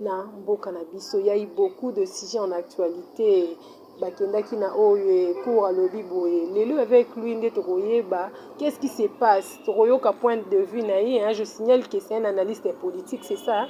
na mboka na biso ya iboku de sujet en actualite bakendaki na oyo ekour alobi boye lelo avec lui nde tokoyeba qu'est ce qui se passe tokoyoka point de vue na ye hein? je signale que c'est un analyste politique c'est ça hein?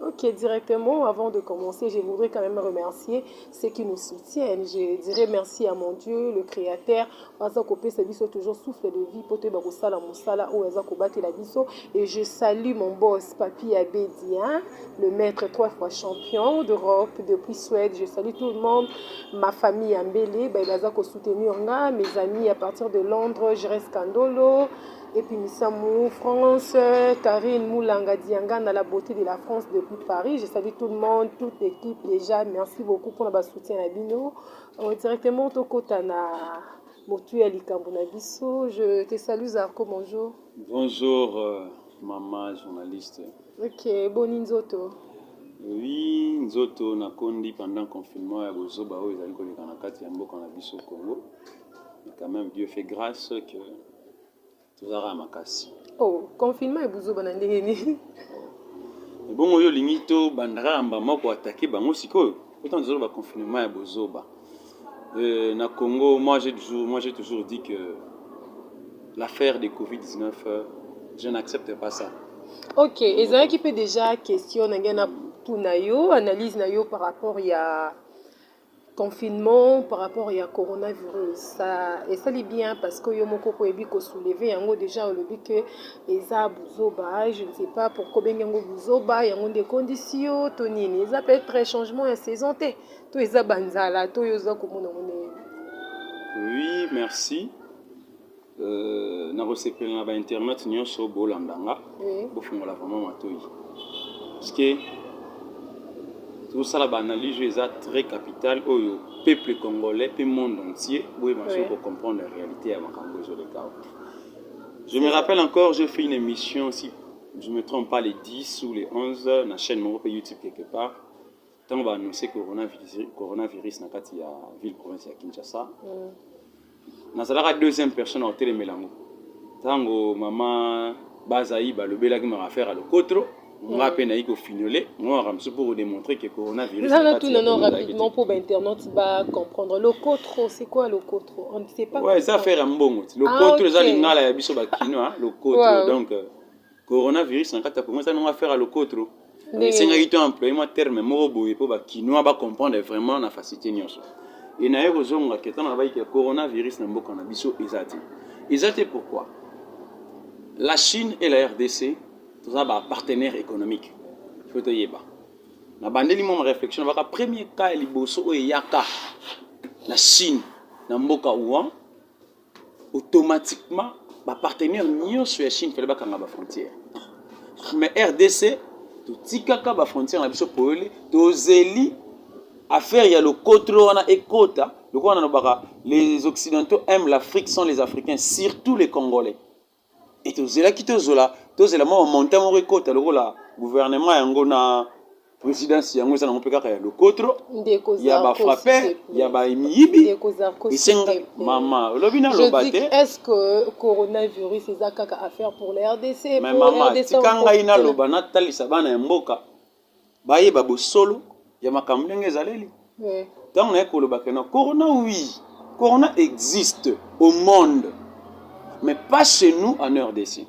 Ok, directement, avant de commencer, je voudrais quand même remercier ceux qui nous soutiennent. Je dirais merci à mon Dieu, le Créateur, aza kopesa biso toujours souffle de vie mpo toyeba kosala mosala oyo aza kobatela biso et je salue mon boss papi abedi hein? le maître trois fois champion d'europe depuis suède je salue tout le monde ma famille ya mbele baye baza kosoutenir nga mes amis à partir de londres gres kandolo epuis misamu france karine moulanga diangana la beauté de la france depuis paris je salue tout le monde toute équipe déjà merci beaucoup mpona basoutien na bino Oh, directement tokota na motu ya likambo na biso. Je te salue Zarko, bonjour. Bonjour euh, maman journaliste. Ok, boni nzoto. Oui, nzoto nakondi pendant confinement ya bozoba oyo ezali koleka na kati ya mboka na biso Congo. Mais quand même Dieu fait grâce que Toza kaka makasi. Oh, confinement et buzoba na ndenge nini? Ebongo yo lingi to banda kaka mbama ko attaquer bango sikoyo? Pourtant tozo loba confinement ya bozoba. Euh, na Congo, moi j'ai toujours, moi j'ai toujours dit que l'affaire de Covid-19, euh, je n'accepte pas ça. Ok, ezalaki mpe déjà question na ngai na tuna yo analyse na yo par rapport ya Confinement par rapport ya corona virus ça esali bien parce que yo moko ko yebi ko soulever yango dejà olobi que eza buzoba je ne sais pas pourquoi obengi yango buzoba yango nde ekondisi yo to nini eza peut être changement ya saison te to eza banzala to yo oza komona ngo ndenge Oui, merci. Euh, nakosepela na ba internet nyonso bolanda nga oui. bofungola vraiment matoyi parceke tosala baanalyse oyo eza très capitale oyo peuple congolais mpe monde entier boyeba soki oui. kocomprendre réalité ya makambo ezoleka awa je me rappelle encore j'ai fait une émission si je me trompe pas les 10 ou les 11 na chaîne moko mpe youtube quelque part Tango ba annoncer coronavirus na kati ya ville province ya Kinshasa, nazalaka deuxième personne ya kotelemela yango. Tango mama Bazayi balobelaki maka affaire ya lokotro, nga mpe nayi kofinyole mwa makambo mosusu mpo kodemontre ke coronavirus Nana tout non rapidement mpo ba internautes ba comprendre lokotro c'est quoi lokotro on ne sait pas ouais eza affaire ya mbongo ti lokotro eza lingala ya biso ba kinois lokotro donc Coronavirus na kati ya Congo eza nanga affaire ya lokotro. Esengaki to employer mwa terme moko boye mpo ba Kinois ba comprendre vraiment na facilité nyonso. Et naye kozonga ke ntango nalobaki ke coronavirus na mboka na biso eza te. Eza te pourquoi? La Chine et la RDC toza ba partenaires économiques. Faut toyeba. Na bandeli mwa réflexion baka premier cas ya liboso oyo eyaka na Chine na mboka Wuhan automatiquement ba partenaires nionso ya Chine fallait bakanga ba frontières mais RDC totikaka ba frontières na biso polele tozeli affaire ya lokotro wana ekota lokola nalobaka les occidentaux aiment l'Afrique sans les Africains surtout les Congolais Et tozelaki tozola tozela mwa montant moko ekota lokola gouvernement yango na présidence yango eza nango mpe kaka ya lokotro ya bafrappe ya bamiyibi esenga mama olobi naloba te coronavirus eza kaka affaire pour la rdc mais mama tika ngai naloba natalisa bana ya mboka bayeba bosolo ya makambo ndenge ezaleli ntango naye koloba que non corona oui corona existe au monde mais pas chez nous en rdc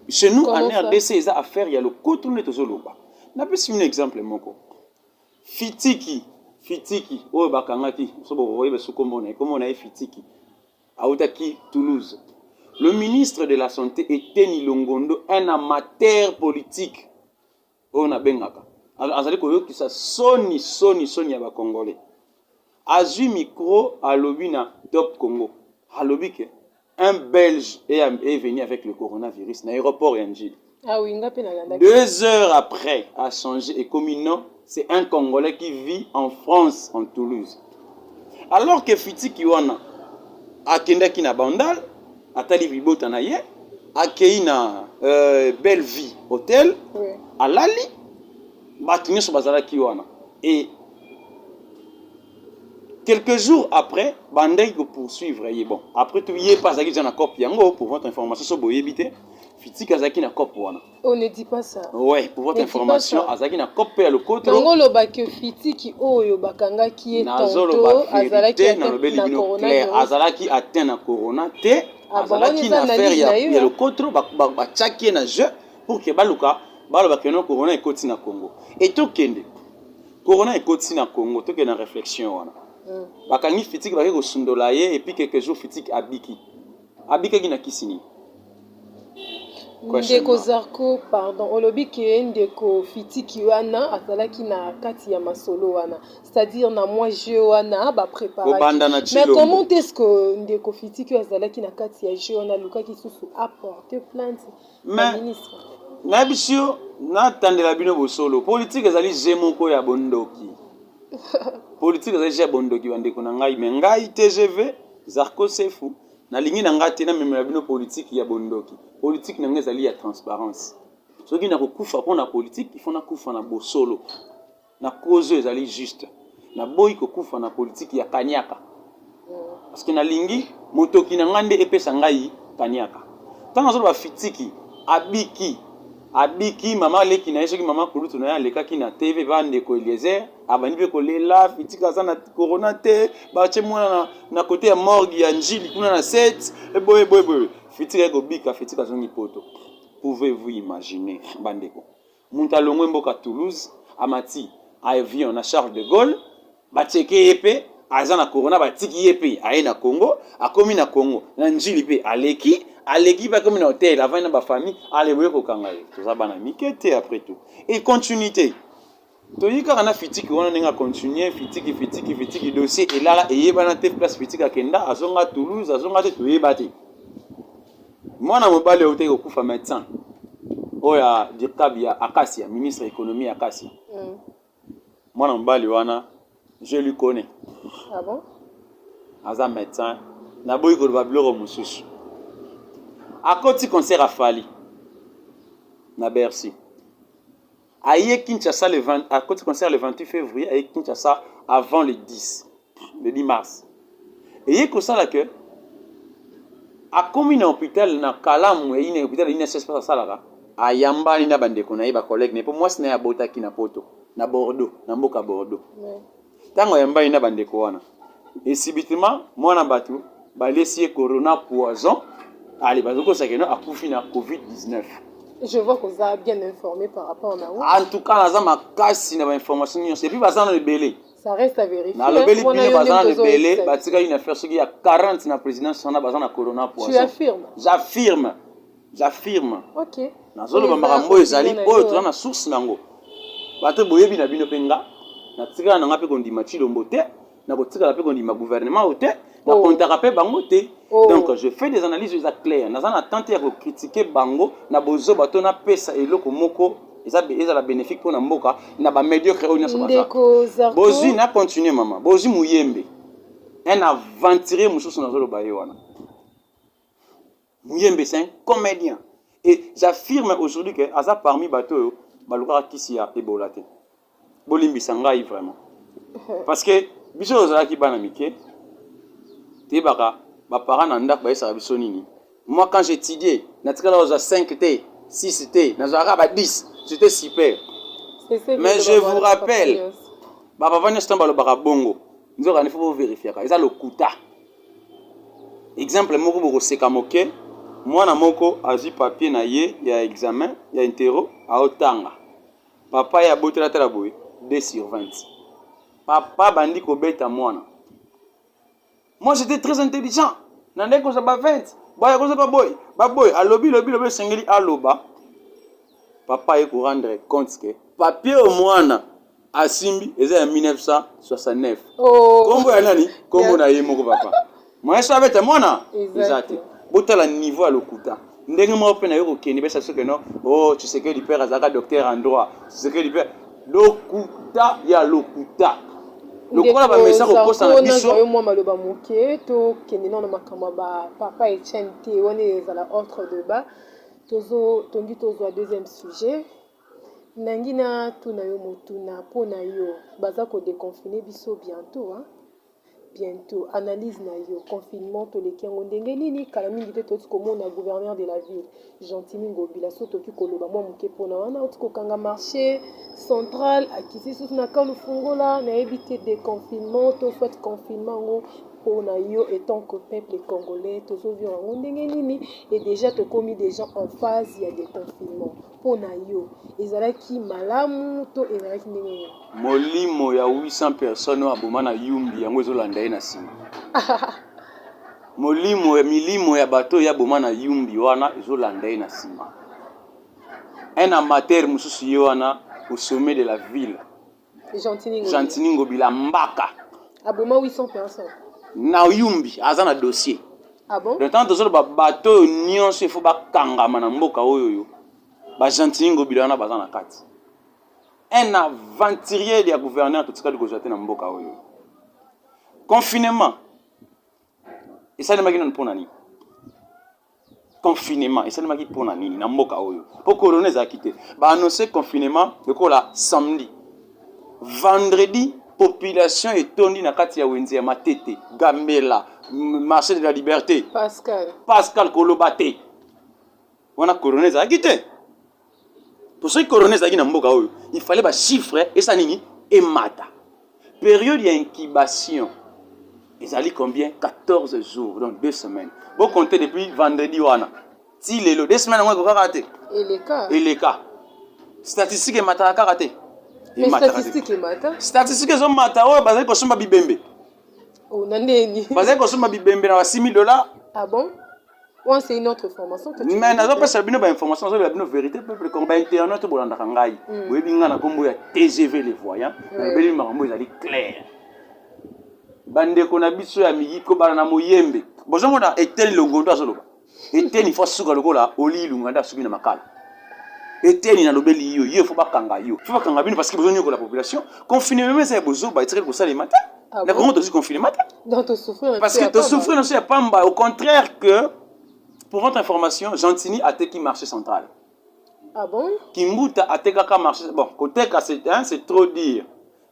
chez nous en rdc eza affaire ya lokoto nde tozoloba napesi bino exemple moko fitiki fitiki oyo bakangaki soki okoyeba soki kombo na ye kombo na ye fitiki awutaki toulouse le ministre de la santé eteni longondo un amateur politique oyo nabengaka azali koyokisa soni soni soni ya bakongole azwi micro alobi na top congo alobi ke un belge est venu avec le coronavirus na aéroport ya njili ah oui, deux heures après a changé et comme non c'est un congolais qui vit en france en toulouse alors que fitiki wana akendaki na bandal atali libota na ye akei na euh, belle vie hotel oui. alali bato nyonso bazalaki wana e quelques jours après bandaki kopoursuivre ye bon après tout ye mpe azalaki deja na cope yango pour votre information so boyebi te fitiki azalaki na cope wana On ne dit pas ça. Ouais, pour votre information, azaki na cop ya lokoto. Donc oloba que fitiki oyo bakangaki ye tonto azalaki na lobeli bino clair, azalaki atteint na corona te, ah, azalaki na affaire ya, ya lokoto batiaki ye na jeu pour que baluka baloba que non corona ekoti na Congo. Et tokende corona ekoti na Congo, tokende na réflexion wana. Mm. Bakangi fitiki bake kosundola ye et puis quelques jours fitiki abiki. Abikaki na kisi nini? Ndeko Zarko pardon olobi ke ndeko fitiki wana azalaki na kati ya masolo wana c'est-à-dire na mwa jeu wana ba preparaki mais comment est-ce que ndeko fitiki oyo azalaki na kati ya jeu wana alukaki susu apporte plainte mais ministre nayebisi yo natandela bino bosolo politike ezali je moko ya bondoki politike ezali je ya bondoki bandeko na ngai me ngai tgv Zarko Sefu, nalingi na ngai te namemela bino politiki ya bondoki. Politiki na ngai ezali ya transparence. Soki nakokufa mpo na politiki, il faut nakufa na bosolo, na kozo ezali juste. Naboyi kokufa na politiki ya kaniaka, parce que nalingi motoki na ngai nde epesa ngai kaniaka. Ntango azoloba fitiki, abiki abiki mama leki na ye soki mama kulutu na ye alekaki na tv bandeko eliezer abandi mpe kolela fitika aza na corona te batie mwana na, na kote ya morgue ya njili kuna na set eboye boye boye fitika ekobika fitika azongi poto pouvez vous imaginer bandeko moto alongwe mboka toulouse amati avion na charles de gaulle batieke ye mpe aza na corona batiki ye mpe aye na congo akomi na congo na njili mpe aleki aleki mpe akomi na hotel avandi na bafamille aleboye kokanga ye toza bana mike te après tout econtinue te Toyii kaka na fitiki wana ndenge a continuer fitiki fitiki fitiki dossier elala eyebana te place fitiki akenda azonga Toulouse azonga te toyeba te mwana mobali autaki kokufa médecin oyo ya dirkab ya akasia ministre économie ya akasia mm. mwana mobali wana je lui connais ah bon? aza médecin naboyi koloba biloko mosusu akoti concert afali na bercy aye Kinshasa le 20 à côté concert le 28 février aye Kinshasa avant le 10 le 10 mars et ye ko sala que a komi na hôpital na kalamu et na hôpital ina sese pas sala ka a yambani na bande ko na ye ba collègue ne po moi sina ya bota ki na poto na Bordeaux na mboka Bordeaux Tango ayambani na bandeko wana, et subitement mwana bato balesi ye corona poison, ale bazokosa keno akufi na covid-19. Je vois que vous êtes bien informé par rapport na vous. En tout cas, naza makasi na ba information nyonso. Et puis baza na ebele. Ça reste à vérifier. Na lobeli bino baza na ebele, batika une affaire soki ya 40 na présidence wana baza na corona poison. Tu affirmes? J'affirme. J'affirme. Ok. Nazoloba makambo oyo ezali oyo toza na source na yango. Bato boyebi na bino mpe nga natikala na nga mpe kondima Tshilombo te nakotikala mpe kondima gouvernement oyo te oh. nakontaka mpe bango te oh. donc je fais des analyses eza claire naza na tente ya kokritike bango na bozoba to napesa eloko moko ezala bénéfique mpo na mboka na bamédiocre oyo nyonso baza bozwi na continue mama bozwi moyembe un aventurier mosusu nazoloba ye wana Muyembe c'est un comedien et j'affirme aujourd'hui que aza parmi bato oyo balukaka kisi ya Ebola te. Bolimbisa ngai vraiment. Parce que biso tozalaki bana mike toyebaka ba parents na ndako bayesaka biso nini. Moi quand j'étudiais natikala kozwa 5 te 6 te nazwaka ba 10 j'étais super. Mais je vous rappelle ba papa nyonso ntango balobaka bongo nzoka nifo bo verifiaka eza lokuta exemple moko bokoseka moke mwana moko azwi papier na ye ya examen ya intero aotanga papa ye abotela atala boye 2 sur 20 papa bandi kobeta mwana moi j'étais très intelligent na ndenge kozwa ba 20 boya kozwa baboye baboye alobi lobi lobi esengeli aloba papa ye korendre compte ke papier omwana asimbi eza ya 1969 oh. kombo ya nani kombo na ye moko papa moyeso abeta mwana eza te botala niveau ya lokuta ndenge moko mpe nayo kokende besa soki no o oh, tshisekedi père azalaka docteur en droit tshisekedi père lokuta ya lokuta lokola bamesa kokosana biso yo mwa maloba moke tokende nao na makambo ya bapapa etienne te wana ezala ordre de bas tozo tongi tozwa deuxième sujet Nangi na tuna yo motuna pona yo baza ko deconfine biso bientot hein bientot analyse na yo confinement toleki yango ndenge nini kala mingi te toti komona gouverneur de la ville Gentini Ngobila so toki koloba mwa moke pona wana oti kokanga marché central akisi susu na kanu fungola nayebi te deconfinement to soit confinement yango pona yo etant que peuple congolais tozo vivre yango ndenge nini et déjà tokomi déjà en phase ya deconfinement Mpo na yo, ezalaki malamu to ezalaki ndenge nini? Molimo ya 800 personnes oyo aboma na Yumbi yango ezolanda ye na nsima. Molimo ya milimo ya bato oyo aboma na Yumbi wana ezolanda ye na nsima. Un amateur mosusu ye wana au sommet de la ville Gentini Ngobila. Gentini Ngobila mbaka. Aboma 800 personnes. Na Yumbi aza na dossier. Ah bon? Le temps tozoloba bato oyo nyonso ifo bakangama na mboka oyo yo. Ba Gentini Ngobila wana baza na kati. Un aventurier ya gouverneur totikali kozwa te na mboka oyo. Confinement esalemaki nanu mpo na nini? confinement esalemaki mpo na nini na mboka oyo mpo corona ezalaki te baannonce confinement lokola samedi vendredi population etondi na kati ya wenze ya matete gambela marché de la liberté pascal, pascal koloba te wana corona ezalaki te mpo soki corona ezalaki na mboka oyo il fallait bachiffre esa nini emata periode ya incubation ezali combien 14 jours donc deux semaines bocompte depuis vendredi wana ti lelo deux semaines yango ekokaka te eleka eleka statistique emataka kaka te statistique ezomata oyo bazali kosomba bibembe oh, bazali kosomba bibembe na ba 6000 dollars ah bon Oyo c'est une autre information que tu mais nazo pesa bino ba information nazo la bino vérité peuple comme ba internet to bolandaka ngai mm. boyebi ngai na kombo ya TGV les voyants nabeli makambo ezali clair bandeko na biso ya miyiko bana na moyembe bozomona eteni longondo azoloba eteni fo suka lokola oli ilunga nde asuki na makala eteni nalobeli yo yo fo bakanga yo fo bakanga bino parce que bozonyokola population confinement eza ya bozoba etikali kosalema te Ah na Congo tozwi confinement te. Donc to souffrir Parce que to souffrir na so ya pamba au contraire que pour votre information Gentini ateki marché central. Ah bon? Kimbuta atekaka marché bon koteka c'est hein, c'est trop dire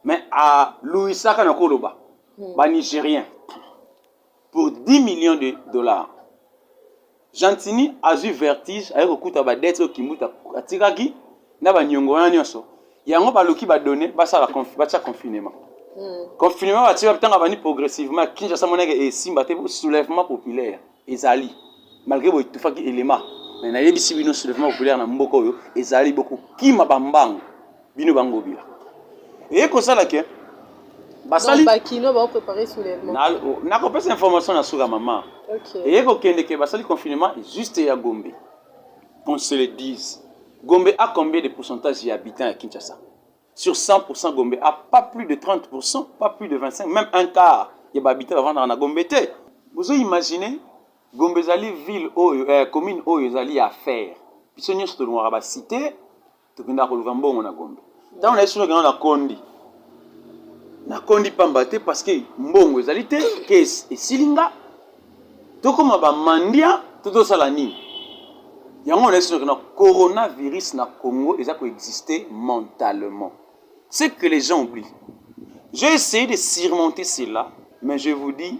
mais à Louisaka na koloba. Hmm. Ba Nigériens pour 10 millions de dollars gentini azwi vertige aye kokuta badete oyo kimbuta atikaki na banyongo wana nyonso yango baluki badone basala batya confinement hmm. confinement batika ntango abandi progressivement kinshasa monaka esimba te soulèvement populaire ezali malgré boye etufaki elema mais nayebisi bino soulèvement populaire na mboka oyo ezali bokokima bambangu bino ba ngobila eye kosala ke basali bakino ba préparer soulèvement na na ko pesa information na suka mama okay. eye ko kende ke basali confinement juste ya Gombe qu'on se le dise Gombe a combien de pourcentage ya habitants ya Kinshasa sur 100% Gombe a pas plus de 30% pas plus de 25 même un quart ya ba habitants bavandaka na Gombe te bozo imaginer Gombe ezali ville oyo eh, commune oyo ezali ya affaire biso nyonso tolingaka ba cité tokendaka koluka mbongo na gombe ntango na yesu nokenda nakondi nakondi pamba te parceke mbongo ezali te kesi esili nga tokóma bamandia to tosala nini yango na yesu nokenda coronavirus na congo eza koexiste mentalement ce que les gens oublient j'ai essayé de surmonter cela mais je vous dis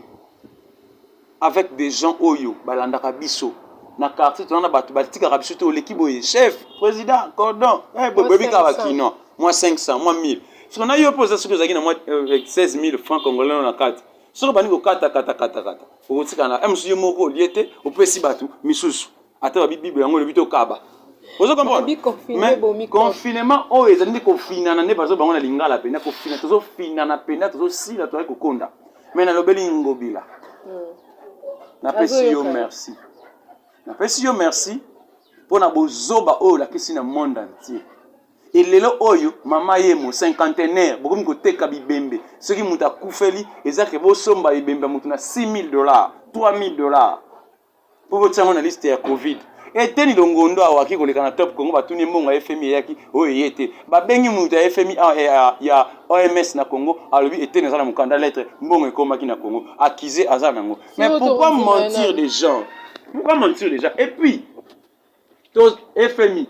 avec des gens oyo balandaka biso na quartier tona na bato batikaka biso te oleki boye chef président cordon eh, boyebi kaka bakino mwa 500 mwa 1000 soki na yo mpe oza soki ozalaki na mwa 16000 euh, franc congolais no na kati soki obandi kokatakatakata okotika na msu yo moko olie te opesi bato misusu ata babi bible yango olobi tokaba ozo comprendre confinement oyo ezali nde kofinana nde bazo bango na lingala mpena kofinana tozofinana mpena tozosila tozali kokonda Mais nalobeli Ngobila. Hmm. Napesi yo merci. Napesi yo merci mpo na bozoba oyo olakisi na monde entier. Et lelo oyo mama yemo cinquantenaire bokomi koteka bibembe soki moto akufeli eza ke bosomba ebembe ya moto na 6000 dollars 3000 dollars mpo botia yango na liste ya covid eteni longondo awaki koleka na top congo batuni ye mbongo ya fmi eyaki oyo eye te babengi moto ya fmi ah, eh, ah, ya oms na congo alobi eteni aza na mokanda lettre mbongo ekomaki na congo accuse aza nango mais pourquoi mentir des gens pourquoi mentir des gens et puis to fmi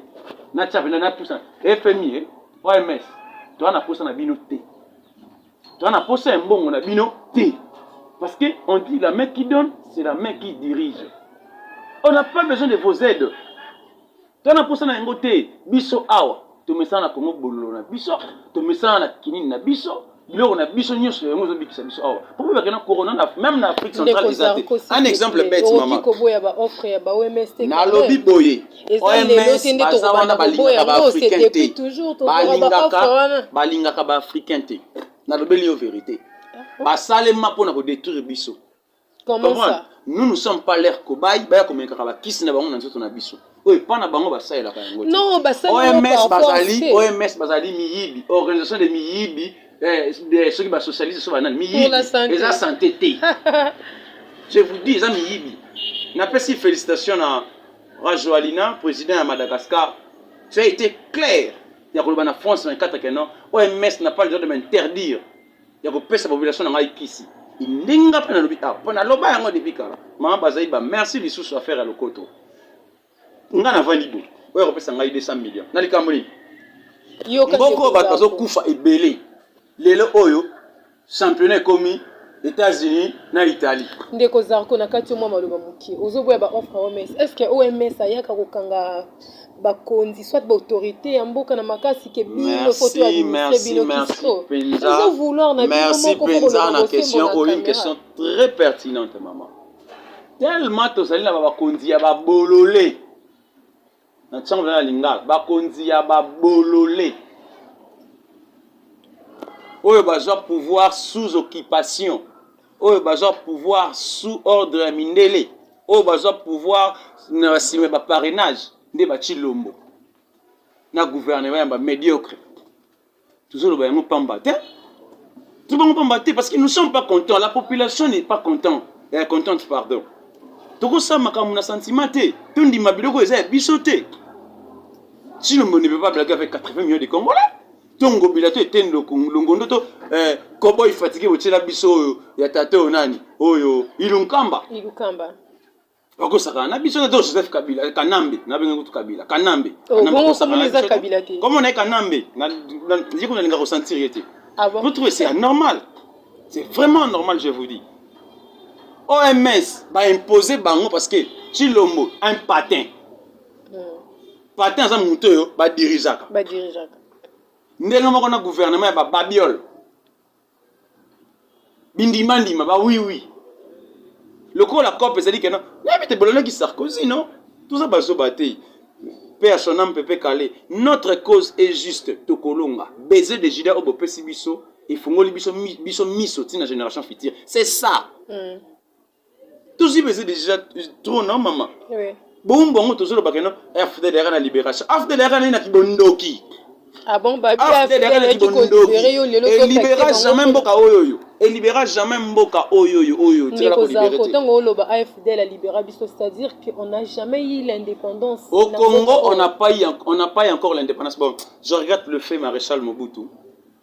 na tchape na na tusa fmi eh, oms toa na posa na bino te toa na posa ya mbongo na bino te parce que on dit la main qui donne c'est la main qui dirige on n'a pas besoin de vos aides toa na posa na yango te biso awa tomesana na kongo bololo na biso tomesana na kinini na biso biloko na biso nyonso yango ezobikisa biso awa mpo mpe bakenda corona na meme na afrique centrale eza te un exemple bete mama koboya ba offre ya ba OMS te nalobi boye OMS baza wana balingaka ba africain te balingaka balingaka ba africain te nalobeli yo verite ah, basalema mpo na kodetruire biso Comment ça? nous nous sommes pas leur cobaye baya komekaka bakisi na bango na nzoto na biso oyo epa na bango basalelaka yango te Non, basali yango oms par force bazali te. oms bazali miyibi organisation de miyibi eh, de- soki basocialiste so banani Pour la santé. miyibi eza sante te je vous dis eza miyibi napesi félicitation na rajoalina président ya madagascar tu as été clair ya koloba na france 24 que non oms n'a pas le droit de m'interdire ya kopesa population na ngai kisi ndenge nga mpe nalobi awa mpo naloba yango depuis kala mama bazali ba merci lisusu affaire ya lokoto nga navandi bo oyo akopesa ngai 200 million na likambo nini mboko oyo bato bazokufa ebele lelo oyo championnat ekomi États-Unis na Italie. Ndeko Zarko na kati mwa maloba moke. Ozoboya ba offre OMS. Est-ce que OMS ayaka kokanga bakonzi soit baautorité ya mboka na makasi ke bino foto ya ministre bino kiso ezo vouloir na bino moko mpenza na question oyo une question très pertinente maman tellement tozali na bakonzi ya babolole na ntango na lingala bakonzi ya babolole oyo bazwa pouvoir sous occupation oyo bazwa pouvoir sous ordre ya mindele oyo bazwa pouvoir na basime ba parrainage nde baci lombo na gouvernement ya bamediocre tozoloba yango pamba te tobango pamba te parce que nous sommes pas content la population n'est pas content eh, contente pardon tokosala makambo na sentiment te tondima biloko eza ya biso te sinon on ne peut pas blaguer avec 80 millions de congolais to ngobila to eteni longondo to eh, kobo ifatike botyela biso oyo ya tata oyo nani oyo ilunkamba ilunkamba bakosakana na biso to joseph kabila kanambe nabenge kutu kabila kanambe oh, komo na ye kanambe ye kuna alinga kosentir ye te ah vous trouvez c'est anormal c'est vraiment anormal je vous dis oms baimpose bango parce que chilombo un patin Patin aza moto oyo ba dirigeaka. Ba dirigeaka. Ndenge moko na gouvernement ya ba babiole. Bindima ndima ba oui oui. Lokola cop ezali kena, nayebi te bolonaki Sarkozy non? Toza bazoba te. Paix à son âme Pepe Kale. Notre cause est juste tokolonga. Baiser de Judas obo pesi biso efungoli biso biso miso tina génération future. C'est ça. Mm. tozwi beze deja trop non mama oui. boumbu yango tozolobaka ino afdl yaka na libération afdl yaka nai na kibondoki ah bon, bah, afdl yaka na kibondoki elibera jamais mboka oyo oyo elibera jamais mboka oyo oyo oyo tikala kolibere te ntango oloba afdl alibera biso c'est-à-dire qu'on n'a jamais eu l'indépendance au congo on n'a pas, on n'a pas encore l'indépendance bon je regrette le fait maréchal mobutu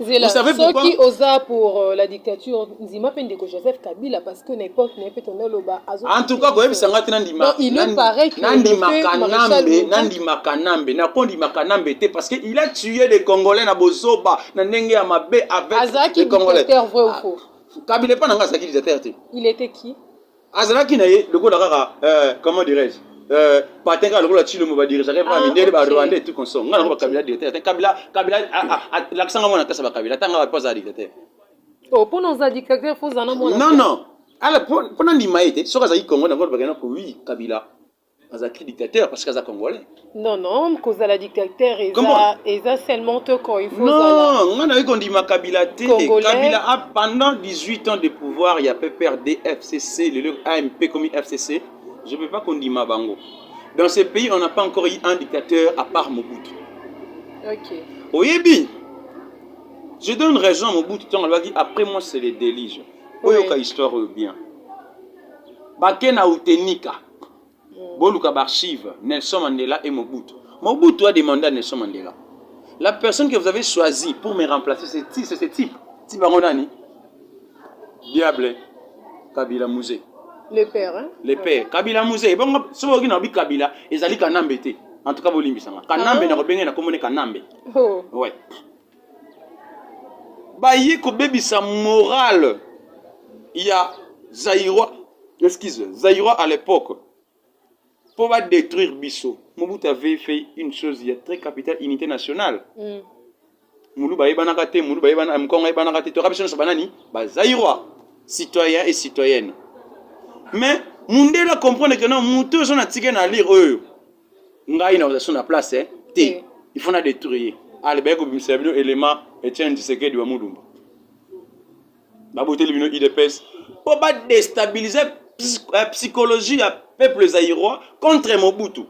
zela soki oza pour euh, la dictature ndima mpe ndeko joseph kabila parce que na époque na ye mpe tonda oloba en tout cas koyebisa ngai te nandimaka nambe nakondimaka nambe te parce que il a tué les congolais na bozoba na ndenge ya mabe avec azalaki dictateur vrai ou ah, faux kabila epa na ngai azalaki dictateur te il était qui azalaki na ye lokola kaka euh, comment dirais-je euh, patin kaka lokola tshilombo badirigeaka epa ah, mindele barwanda etu consom ngai nango bakabila directeur ata kabila kabila lakisanga mwana kasa bakabila ata ngai po azala dictateur oh, mpona oza dictateur fo oza na mwana non non ala mpona ndima ye te soki azalaki congo nango bakenda ko wi kabila azalaki dictateur parce que aza congolais non non kozala dictateur eza eza seulement te quand il faut non nga nayoki kondima kabila te kabila a pendant 18 ans de pouvoir ya pprd fcc lelo amp komi fcc je peux pas kondima bango dans ce pays on n'a pas encore eu un dictateur à part mobutu ok oyebi je donne raison à mobutu ntango alobaki après moi c'est le délige oyoka oui. histoire oyo bien bake na utenika mm. boluka baarchive nelson mandela et mobutu mobutu a demande à nelson mandela la personne que vous avez choisi pour me remplacer c'est ce type type yango nani diable kabila muze le père hein? le père kabila muze ebongo soki oyoki na obi kabila ezali kanambe te en tout cas bolimbisanga kanambe ah. nakobenge nakomone kanambe oh. ouais baye kobebisa morale ya zaïrois excuse zaïrois à l'époque mpo badétruire biso mobutu avait fait une chose ya très capitale unité nationale mm. muluba ayebanaka te muluba ayebanaka mkongo ayebanaka te toyaka biso nyonso banani bazaïrois citoyen et citoyenne mais mundele comprendre que non moto oyo ozo na tike na lire oyo ngai na oza na place eh? te eh. il faut na détruire ye alibaki kobimisela bino élément etienne tshisekedi wa mulumba baboteli bino idps mpo badestabilise eh, psychologie ya peuple zairois contre mobutu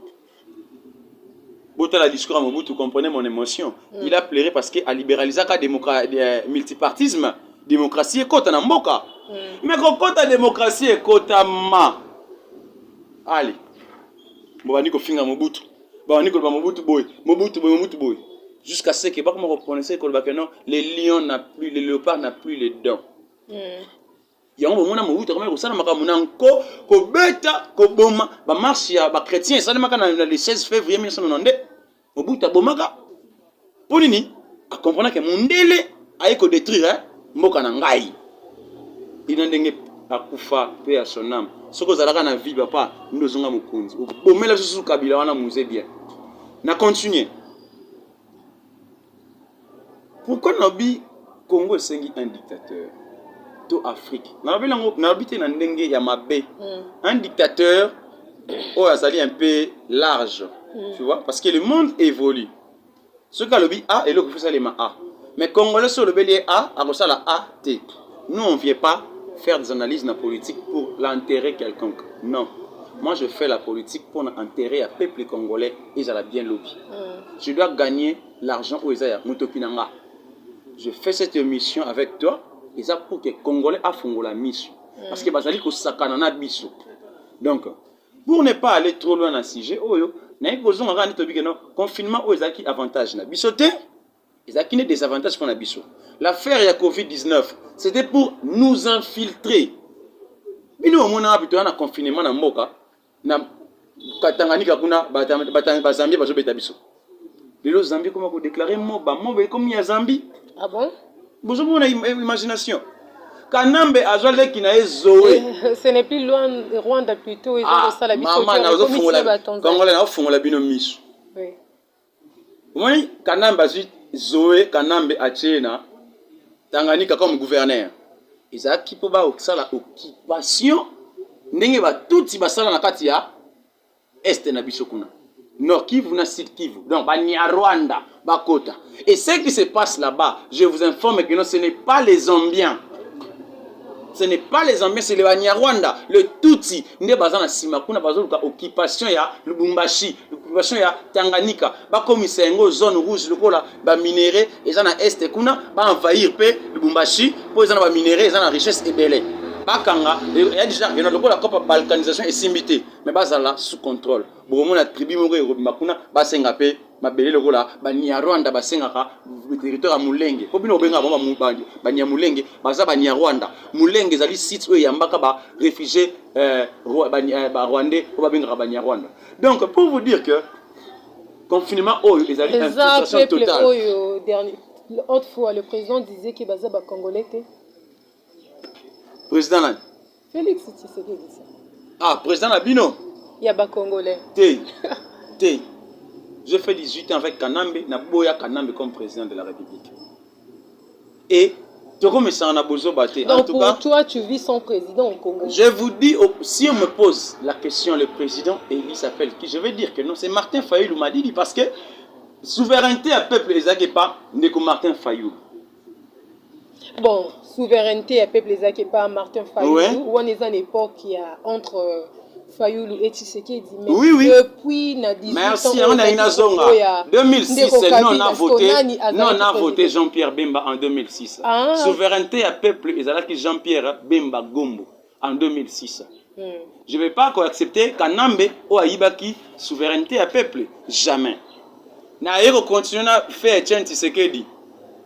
botala discours ya mobutu comprenez mon émotion mm. il a pleuré parce que alibéralisaka eh, multipartisme démocratie ekota na mboka mm. mais kokota démocratie ekotama ali bobandi kofinga mobutu babandi koloba mobutu boye mobutu boye mobutu boye jusqu'à ce que bakoma koprononce koloba que non le lion na plus le léopard na plus le don mm. yango bomona mobutu akomaki kosala makambo na nko kobeta koboma bamarshe ya bachrétien esalemaka na le 16 février 1992 Mobutu abomaka mpo nini? Akomprena ke mondele aye kodetruire eh, mboka na ngai ina ndenge akufa mpe ya sonam. Soki ozalaka na vie papa nde ozonga mokonzi, obomela biso susu kabila wana muze bien na continue Pourquoi nalobi Congo esengi un dictateur to Afrique? Nalobi nango, nalobi te na ndenge ya mabe. Mm. Un dictateur oyo azali un peu large. Mm. Tu vois parce que le monde évolue. Soki alobi A, eloko faut salema A. Mais Congolais so olobeli ye A, akosala A te. Nous on vient pas faire des analyses na politique pour l'intérêt quelconque. Non. Moi je fais la politique pour l'intérêt ya peuple congolais ezala bien lobi. Mm. Je dois gagner L'argent oyo eza ya mutoki na nga. Je fais cette emission avec toi eza pour que congolais afongola misu mm. parce que bazali kosakana na biso donc pour ne pas aller trop loin na sujet oyo naye kozonga kaka nde tobike no confinement oyo ezalaki avantage na biso te ezalaki nde désavantage mpo na biso l'affaire ya covid-19 c'était pour nous infiltrer bino omonaka bitoya na confinement na mboka na Tanganyika kuna ba Zambie bazo beta biso lelo Zambie koma ko déclarer moba moba ekomi ya Zambie ah bon bozo mona imagination kanambe azwa leki na ye zoe eh, ce n'est plus loin rwanda plutôt ezo ah, kosala biso mama na ozo fungola kongola na ofungola bino misu omoni kanambe azwi zoe kanambe atie na tanganyika comme gouverneur ezalaki mpo basala occupation ndenge batuti basala na kati ya este na biso kuna nord kivu na sud kivu donc banyarwanda bakota et ce qui se passe là-bas je vous informe que non ce n'est pas les zambiens ce n'est pas les ambiens c'est les banyarwanda le tutsi nde baza na nsima kuna bazoluka occupation ya lubumbashi occupation ya tanganyika bakomisa yango zone rouge lokola baminerai eza na este kuna baenvahir mpe lubumbashi mpo eza na baminerai eza na richesse ebele bakanga ya deja ena lokola kopa balkanisation esimbi te mais bazala sous contrôle bokomona tribu moko ekobima kuna basenga mpe mabele lokola banyarwanda basengaka territoire ya mulenge mpo bino obengaka bango banyamulenge baza banyarwanda mulenge ezali site oyo eyambaka barefugie eh, eh, barwandais oyo babengaka banyarwanda donc pour vous dire que confinement oyo ezali infiltration totale oyo dernier autrefois le président disait que baza bacongolais te président nani Felix Tshisekedi ça. Ah, président na bino Ya ba congolais. Te. Te. J'ai fait 18 ans avec Kanambe, na boya Kanambe comme président de la République. Et tokomesana na bozoba te. Donc en tout pour cas, toi tu vis son président au Congo. Je vous dis oh, si on me pose la question le président élu s'appelle qui, je vais dire que non, c'est Martin Fayulu Madidi parce que souveraineté à peuple ezaki pas ndeko Martin Fayulu. bon souveraineté ya peuple ezalaki epa martin fayulu ouais. wana eza na époque ya entre euh, fayulu et tshisekedi mais oui, oui. depuis na 18 merci yango nayi nazonga 2006 non na vote non na vote jean pierre bemba en 2006 ah. souveraineté ya peuple ezalaki jean pierre bemba gombo en 2006 hmm. je vais pas koaccepte kanambe oyo ayibaki souveraineté ya peuple jamais naye kocontinue na fe etienne tisekedi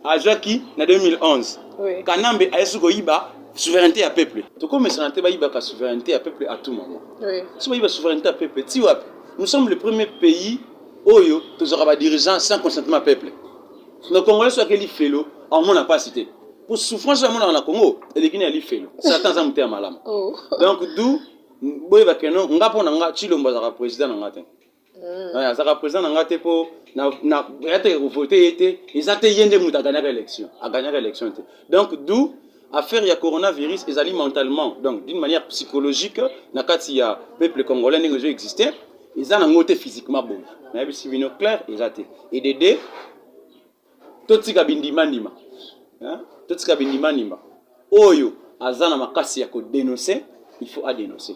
azwaki na 2011 oui. kanambe ayesi koyiba souveraineté ya peuple tokomesana te bayibaka souveraineté ya peuple à tout moment oui. so bayiba souveraineté ya peuple ti wapi nous sommes le premier pays oyo tozwaka badirigeant sans consentement ya peuple Mais Congolais soki akeli felo, amona pasi te. Pour souffrance ya mona na Congo, eleki na li felo. Satan aza muteya malamu. Oh. Donc d'où boye ba keno nga pona nga Chilombo azaka président na nga te. Mm. Ouais, azaka président na nga te po na na yate ko voter yete, ezate yende muta gagnaka élection. A gagnaka élection te. Donc d'où Affaire ya coronavirus ezali mentalement donc d'une manière psychologique na kati ya peuple congolais ndenge ezo exister eza nango te physiquement boye nayebisi bino claire eza te edede totika bindimandima totika bindimandima oyo aza na makasi ya kodenonse il faut adenonse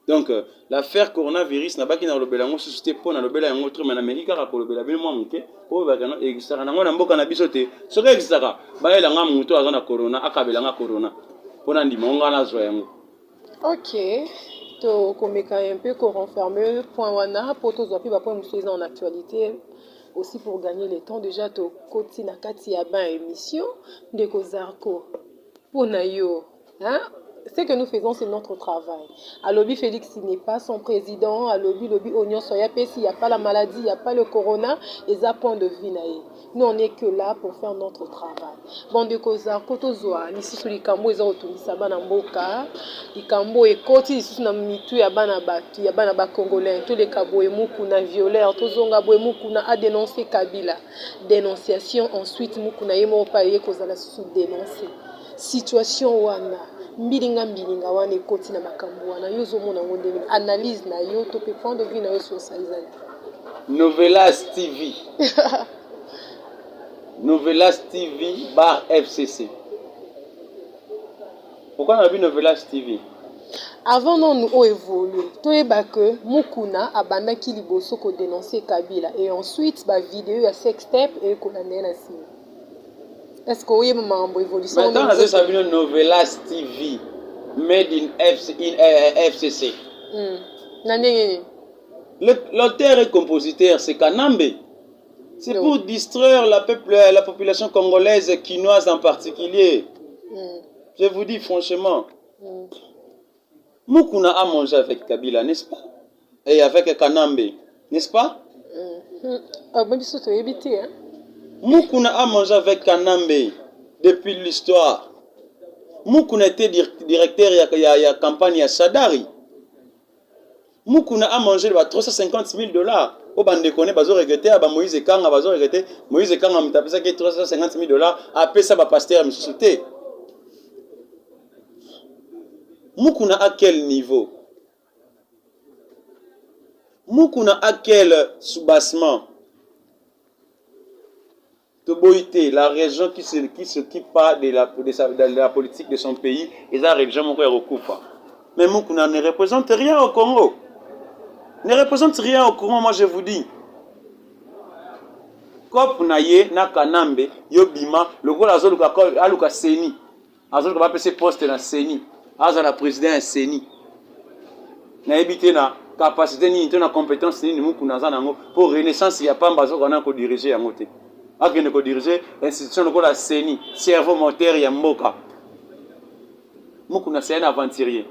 Donc, l'affaire coronavirus, nabaki na lobela yango susu te mpo na lobela yango trop, mais nameki kaka kolobela bino mwa moke mpo bakana existaka nango na mboka na biso te. Soki existaka, bayela nga moto aza na corona, akabela nga corona mpo na ndima nga nazwa yango. Ok, tokomeka un peu ko renfermer point wana mpo tozwa mpe ba point mosusu eza en actualité aussi pour gagner le temps déjà tokoti na kati ya bain émission ndeko Zarko mpo na yo Hein? Ce que nous faisons c'est notre travail. Alobi Felix n'est pas son président, alobi lobi oignon soya pesi, il n'y a pas la maladie, il n'y a pas le corona, et ça point de vue nae. Nous on est que là pour faire notre travail. Bon de koza koto zwa lisusu likambo eza kotungisa bana mboka, likambo ekoti lisusu na mitu ya bana batu, ya bana ba congolais, to leka boye mukuna violeur, to zonga boye mukuna a dénoncer Kabila. Dénonciation ensuite mukuna ye moko pa ye kozala susu dénoncer. Situation wana, mbilinga mbilinga wana ekoti na makambu wana, yo ozo mona yango ndenge nini? Analyse na yo to pe point de vue na yo sur ça eza nini? Novelas TV Novelas TV bar FCC Pourquoi nalobi Novelas TV? Avant nanu o evoluer, toyeba que Mukuna abandaki liboso ko denoncer Kabila et ensuite ba videos ya sextape eye kolanda ye na sima. est ce que oyeba makambo evolution mais ntango nazosala bino novelas tv made in, FC, in uh, eh, fcc eh, mm. na ndenge nini l'auteur et compositeur c'est kanambe c'est pour distraire la, peuple, la population congolaise kinoise en particulier mm. je vous dis franchement mm. Mukuna a mange avec Kabila n'est-ce pas? Et avec Kanambe n'est-ce pas? Hum, hum. biso toyebi te hein. Mukuna a mangé avec Kanambe depuis l'histoire. Mukuna était directeur ya, ya, ya campagne ya Sadari. Mukuna a manger ba 350 000 dollars po bandeko ne bazo regrete ya ba Moïse Ekanga bazo regrete Moïse Ekanga moto apesaki 350 000 dollars apesa ba pasteur misusu te Mukuna à quel niveau Mukuna à quel soubassement Toboyi te la region qui se qui s'occupe pas de la de, sa, de la politique de son pays eza region moko ya kokufa. Mais Mukuna ne représente rien au Congo. Ne représente rien au Congo, moi je vous dis. Cop na ye na Kanambe yo bima lokola azoluka aluka seni. azoluka bapese poste na ceni azala president ya ceni nayebi te na capacité nini to na compétence nini mukuna aza na yango mpo renaissance ya pamba azokoka na kodirige yango te akende kodirige institution lokola ceni cerveau moteur ya mboka mukuna seani aventurier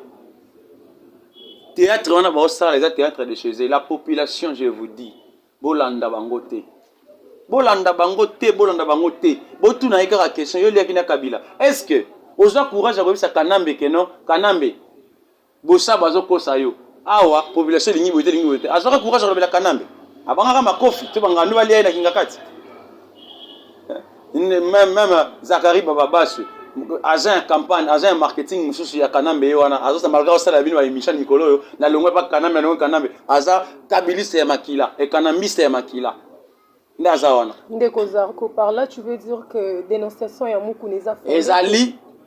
théâtre wana baosala eza théâtre de chez la population je vous dis Bolanda bango te. Bolanda bango te, bolanda bango te. Botuna ye kaka question, yo liaki na Kabila. Est-ce que oza courage ya koyebisa Kanambe que non, Kanambe bosa bazo kosa yo. Awa population elingi boye te, elingi boye te. Azwaka courage ya kolobela Kanambe. Abangaka makofi to bangando balia ye na Kingakati. meme zakari bababaswe agent ya campagne agent ya marketing mosusu ya kanambe ye wana azosa malgre osala bino baemission mikolo oyo nalongwe mpa kanambe alongwe kanambe aza kabiliste ya makila ekanambiste ya makila nde aza wana ndeko zarko par là tu veux dire que dénonciation ya mukuna eza ezali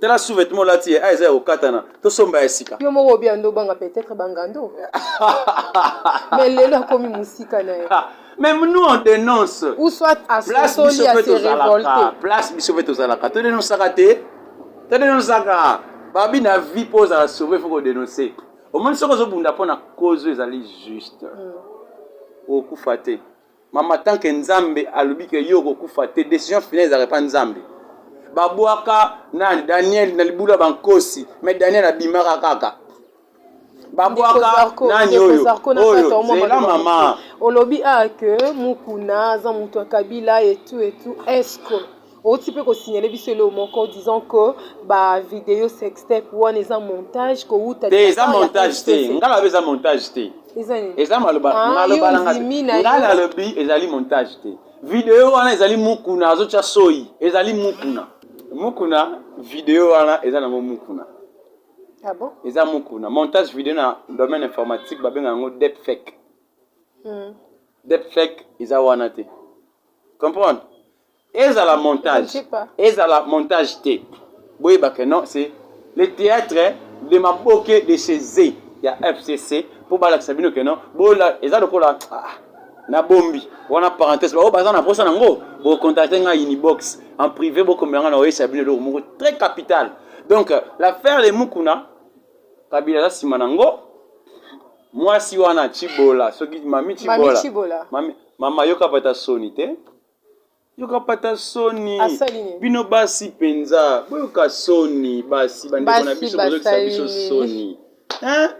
tala sous vêtement olati ye a eza ya kokatana tosomba ya sika yo moko obia ndo obanga peut-être bangando mais lelo akomi mosika na ye mais nous on dénonce ou soit asosoli ya se révolte place biso mpe tozalaka todenosaka te todenosaka babi na vie mpo ozala sauve fo kodenonce omoni soki ozobunda mpo na cause oyo ezali juste mm. okufa te Mama tant que nzambe alobi que yo okokufa te decision finale ezalaka epa nzambe babwaka na daniel na libulu ya bankosi mais daniel abimaka kaka babwaka nani oyo oyo zela mama olobi a ah, que mukuna aza moto ya kabila etu etu esco Owuti pe ko signaler biso eloko moko disant que ba video sextape wana eza montage ko wuta te eza montage te nga nalobi eza montage te eza nini eza maloba ah, maloba na nga nga nalobi ezali montage te video wana ezali mukuna azotya soyi ezali mukuna mukuna video wana eza nango mukuna ah bon? eza mukuna montage video na domaine informatique babenga yango deep fake hmm. deep fake eza wana te comprendre ezala montage ezala montage te boyeba que non c'est le théâtre de maboke de chez ya fcc mpo balakisa bino que non bola eza lokola ah, na bombi wana parenthèse baoyo baza na posa nango bocontacte ngai unibox en privé bokomela ngai na oyesa bino eloko moko très capital donc l'affaire de mukuna kabila aza nsima nango mwasi wana chibola soki mami chibola mami, mama yoka pata soni te yoka pata soni bino basi penza boyoka soni basi bandeko na biso bozokisa biso soni hein?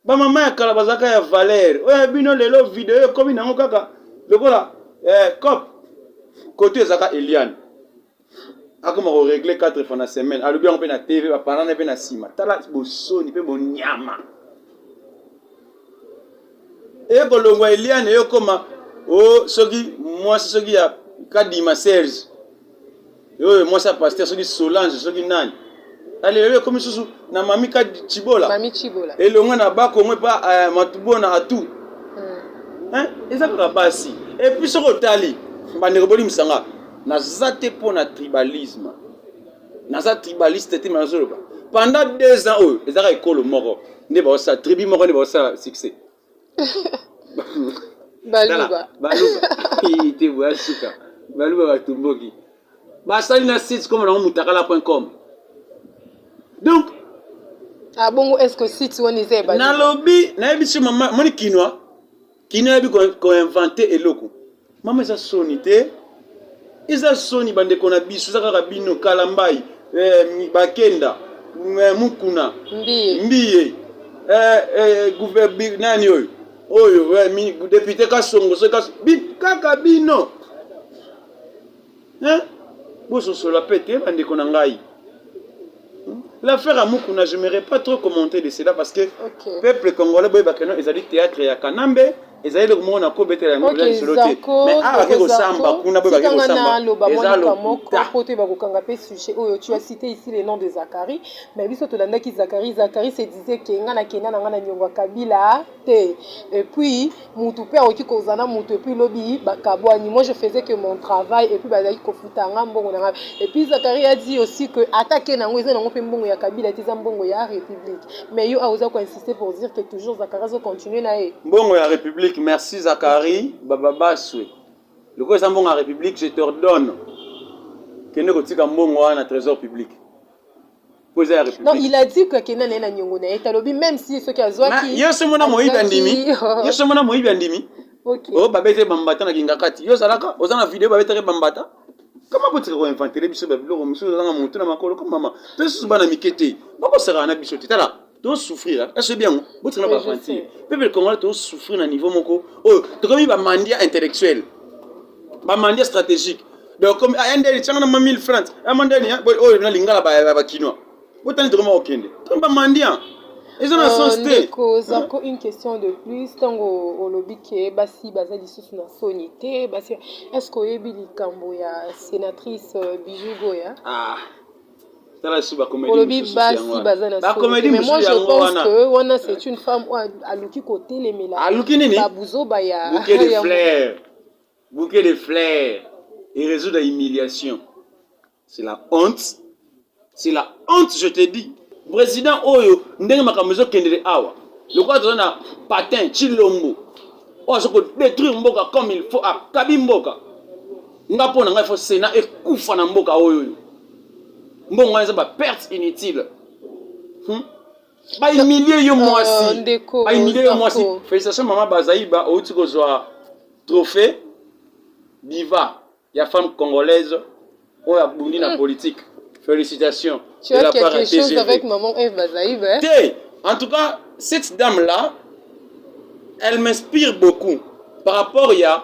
bamama ya kala bazalaka ya valeur oyo ya bino lelo video ekomi nango kaka lokola eh, cop koto ezalaka eliane akoma ko régler 4 fois na semaine alobi yango mpe na tv bapanana mpe na nsima tala bosoni mpe bonyama eye kolongwa eliane eye okoma o oh, soki mwasi soki ya kadima serge oyo mwasi ya paster soki solange soki nani Alelele ekomi susu na mami ka chibola. Mami chibola. Elonga na ba kongo pa uh, eh, matubona atu. Hmm. Hein? Eza kaka basi. Et puis soko tali bandeko boli misanga. Naza te pona tribalisme. Naza tribaliste te mazoloba. Pendant deux ans oyo ezaka ekolo moko nde baosa tribu moko nde baosa succès. baluba baluba te boya suka baluba batumboki basali na site koma nango mutakala point com donc abongo ah, est ce que site wana eza ya nalobi nayebisi mama moni kinwa kinwa yebi koinvente eloko Mama eza soni te. Eza soni bandeko na biso eza kaka bino kalambai eh, bakenda eh, mukuna mbiye, mbiye eh, eh, guve, nani oyo oyo eh, depute kasongo so kas, bi, kaka bino Hein? Bososola pe te ba ndeko na ngai. Hmm? L'affaire à Mukuna, je me pas trop commenter de cela parce que okay. peuple congolais boye bakeno ezali théâtre ya Kanambe ezali eloko moko na kobetela yango eza lisolo te mais awa bake kosamba kuna boye bake kosamba eza lokuta po te bakokanga mpe sujet oyo tu as cité ici le nom de Zachary mais biso tolandaki Zachary Zachary se disait ke nga na kenda na nga na nyongo ya Kabila te et puis mutu pe akoki kozala na mutu et puis lobi ba kabuani moi je faisais que mon travail et puis bazalaki kofuta nga mbongo na nga et puis Zachari a dit aussi que ata ken yango eza nango pe mbongo ya Kabila te eza mbongo ya Republique mais yo aoza ko insister pour dire que toujours Zachari azo continuer na ye mbongo ya Republique merci Zachari bababaswe lokola eza mbongo ya Republique je t'ordonne kende kotika mbongo wana na trésor public po eza ya république non il a dit que akenda naye na niongo na ye talobi même si soki azwaki yo somo na moyibi andimi yo somo na moyibi andimi okay. oh babete bambata na kingakati yo ozalaka oza na video babetaki bambata kama botika koinventele biso babiloko mosusu ozanga motu na makolo ko mama to lisusu bana mike te bakosakana na biso te tala To souffrir, hein? est-ce bien? Vous êtes pas gentil. Peuple congolais, to souffrir na niveau moko. Oh, to comme ba mandia intellectuel. Ba mandia stratégique. Donc comme ah, ende changa na 1000 francs. Ah mandani, hein? Oh, na lingala ba ba kinois. Vous êtes vraiment okende. To ba mandia. eza na sens te ndeko zako une question de plus ntango olobi ke basi baza lisusu na soni te basi est ce que oyebi likambo ya sénatrice euh, bijou goya ah. tala lisusu ba comedy olobi mosusu basi yango wana. baza na Ba solo comedy te, mais moi mosusu je yango pense wana. que wana c'est une femme oyo aluki kotelemela aluki nini babuzoba ya bouquet de ya- fleurs bouquet de fleurs et résoudre la humiliation c'est la honte c'est la honte je te dis président oyo ndenge makambo ezokendele awa lokola toza na patin chilombo oyo aza kodétruire mboka comme il faut akabi mboka nga mpo na ngai fo sena ekufa na mboka oyo oyo mbongo wana eza ba perte inutile hmm? baimilie yo mwasi oh, baimilie yo mwasi félicitation mama bazaiba outi kozwa trophée diva ya femme congolaise oyo abundi na hmm. politique félicitation tu as quelque chose avec maman eve bazaiba hein? te en tout cas cette dame là elle m'inspire beaucoup par rapport ya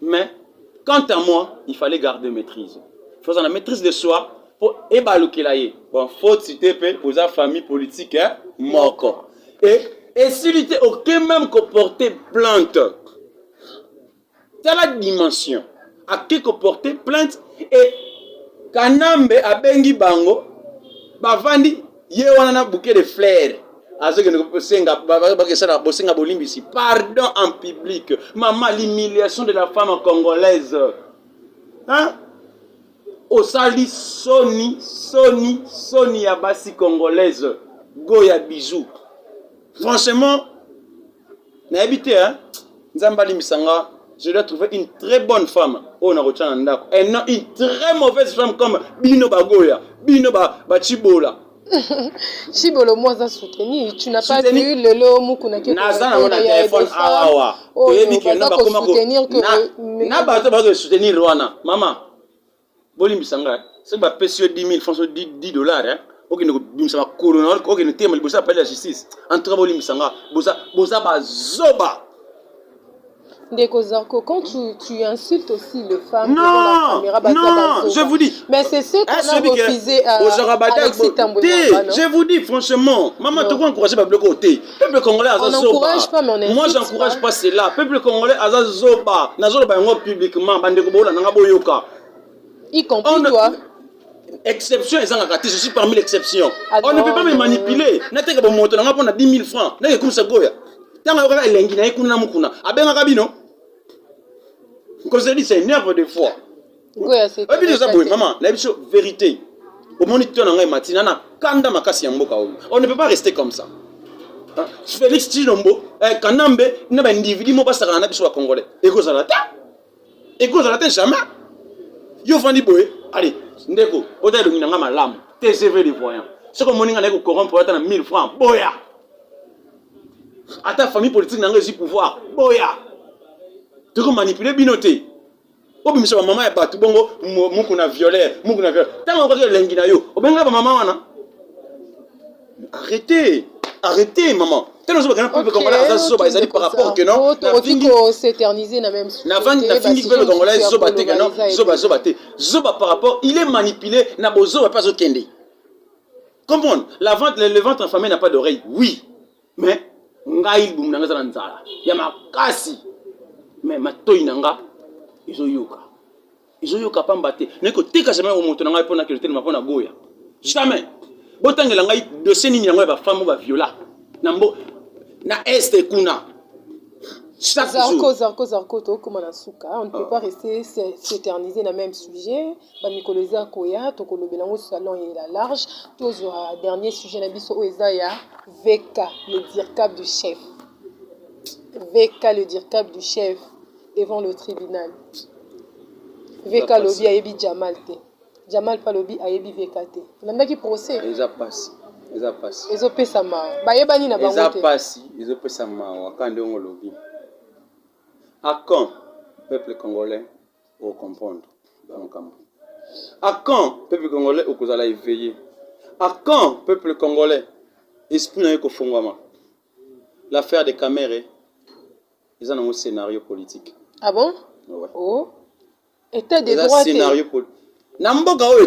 mais quant à moi il fallait garder maîtrise faza na maîtrise de soi mpo ebalukela ye bon foti te mpe oza famille politique eh? moko e esili te oke meme koporte plante tala dimension ake koporte plainte e kanambe abengi bango bavandi ye wana na bouquet de fleur azokende kosenga bakesana bosenga bolimbisi pardon en public mama l'humiliation de la femme congolaise hein? osali soni soni soni ya basi congolaise go ya bisou franchement nayebi te hein nzambe alimbisa nga je dois trouver une très bonne femme oyo nakotya na ndako et non une très mauvaise femme comme bino bagoya bino bacibola ba shibolo mwa aza souteni tu n'as pas vu lelo mukuna ke naza nango na telefone awa toyebi keno bakoma na bato bazo soutenir wana mama bolimbisa nga soki bapesi yo 10 000 francs so 10 dollars hein okende kobimisa makolo na okende tema liboso ya palais ya justice en tout cas bolimbisa nga boza boza bazoba Ndeko Zarko, quand tu, tu insultes aussi les femmes non, devant la caméra, bah, non, je vous dis. Mais c'est ce qu'on a refusé à, à Alexis Tamboué. Je vous dis franchement, maman, tu vas encourager Babloko T. peuple congolais aza zoba moi j'encourage pas cela peuple congolais aza zoba nazoloba yango publiquement bandeko boolanda nga boyoka y compris toi exception ezangaka te je suis parmi l'exception ah on ne peut pas me manipuler nateka bomoto nanga mpo na 10 000 francs nake ekumisa goya ntango ayokaka elengi na ye kuna na mokuna abengaka bino nkozelisa énerve de fois oyebi eza boye mama na biso verité omoni to na ngai matina na kanda makasi ya mboka oyo on ne peut pas rester comme ça félix tshilombo eh, kanambe na baindividu mo basakana na biso bacongolais ekozala te ekozala te jamais yo ofandi boye ale ndeko ota elongi na ngai malamu tcv de voyant soki omoni ngai naye kocorrompre ata na 1000 francs boya ata famille politique na ngai ezwi pouvoir boya tokomanipule bino te obimisa ba mama ya batu bongo muku na violer muku na violer tanga okaki elengi na yo obenga ba mama wana arrêtez arrêtez maman tena ozobaka na peuple congolais aza zoba ezali par rapport que non nafingi peuple congolais zoba te que non zoba zoba te zoba par rapport il est manipulé na bozoba mpe azokende comprendre la vente le ventre enfamé n'a pas d'oreille oui mais ngai libumu na ngai eza na nzala ya makasi mais matoi na nga ezoyoka ezoyoka pamba te naye koteka jamai yango moto na ngai mpo na kilo telema mpo na boya jamais botangela ngai dosie nini yango ya bafambo baviola na mbo na este kuna Zarco, Zarco, Zarco, tokoma na suka. On ne peut ah. pas rester s'éterniser na même sujet. Ba mikolo eza koya tokolobela yango salon et la large tozwa dernier sujet na biso oyo eza ya VK le dircab du chef VK le dircab du chef devant le tribunal VK alobi ayebi Jamal te Jamal mpe alobi ayebi VK te olandaki procès eza pasi eza pasi ezopesa mawa bayebani na bango te eza pasi ezopesa mawa kande yango olobi akan peuple congolais o comprendre ba makambo à quand peuple congolais okozala éveillé à quand peuple congolais esprit na yo ekofongwama l'affaire de kamere eza nango scénario politique ah bon ouais. oh. état de droit scénario politique na mboka oyo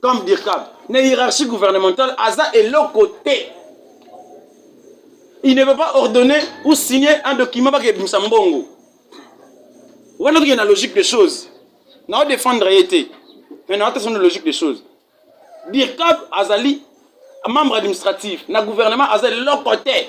comme Dirkab na hiérarchie gouvernementale aza eloko te il ne peut pas ordonner ou signer un document bakebimisa mbongo wana tokende na logique de choses nao défendre ye te mais nao te sona logique de choses Dirkab azali membre administratif na gouvernement aza eloko te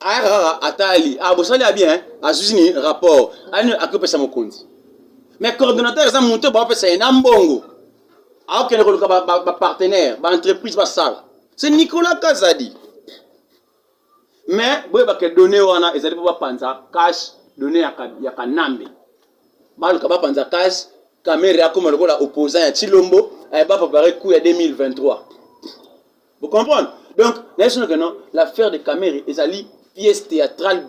ayaka kaka atali ah, bosali ya bien azwi ni rapport ani akopesa mokonzi mais coordonnateur eza moto baopesa ye na mbongo aokende koluka bapartenaire baentreprise basala se nicolas kazadi mais boyebake donne wana ezali mpo bapanza cash donne ya kanambe baluka bapanza cash kamere akoma lokola opposant ya chilombo eh, baprepare coup ya 2023 Vous comprenez Donc, national que non, l'affaire de Kamere ezali pièce théâtrale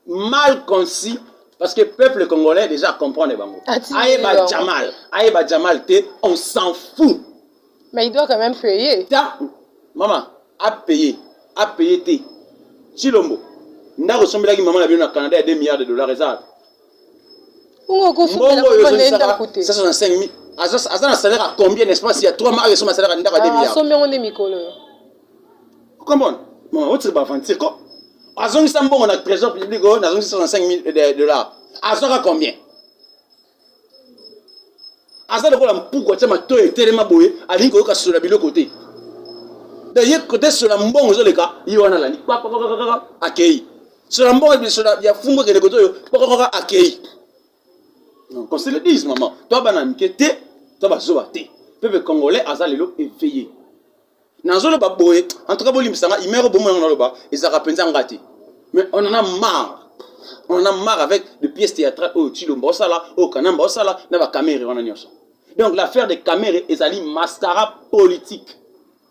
mal conçue parce que peuple congolais déjà comprendre bango. Ayeba Jamal, ayeba Jamal te, on s'en fout. Mais il doit quand même payer. Ta maman a payé, a payé te. Chilombo, ndako sombelaki maman na bino na Canada ya 2 milliards de dollars eza aza na salaire ya combien n'est-ce pas ya 3 mois ayo esoma salaire ya ndako ya 2 milliards asombi yango nde mikolo yo okomona mama otiki baaventure ko azongisa mbongo na trésor public oyo nazongisi 65 000 dollars azwaka combien aza lokola mpuku atya matoyi etelema boye alingi koyoka sola biloko te de ye kote sola mbongo ezoleka ye wana alandi akei so na mboka biso ya fumbu ekende kotoyo kokokaka akei qu'on se le dise maman to bana mike te to bazoba te peuple congolais aza lelo éveillé nazoloba boye en tout cas bolimbisa nga imero bomona nga naloba ezalaka mpenza nga te mais on en a marre on en a marre avec de pièces théâtrales oyo tshilomba osala oyo kanamba osala na bakamere wana nyonso donc l'affaire de kamere ezali mascara politique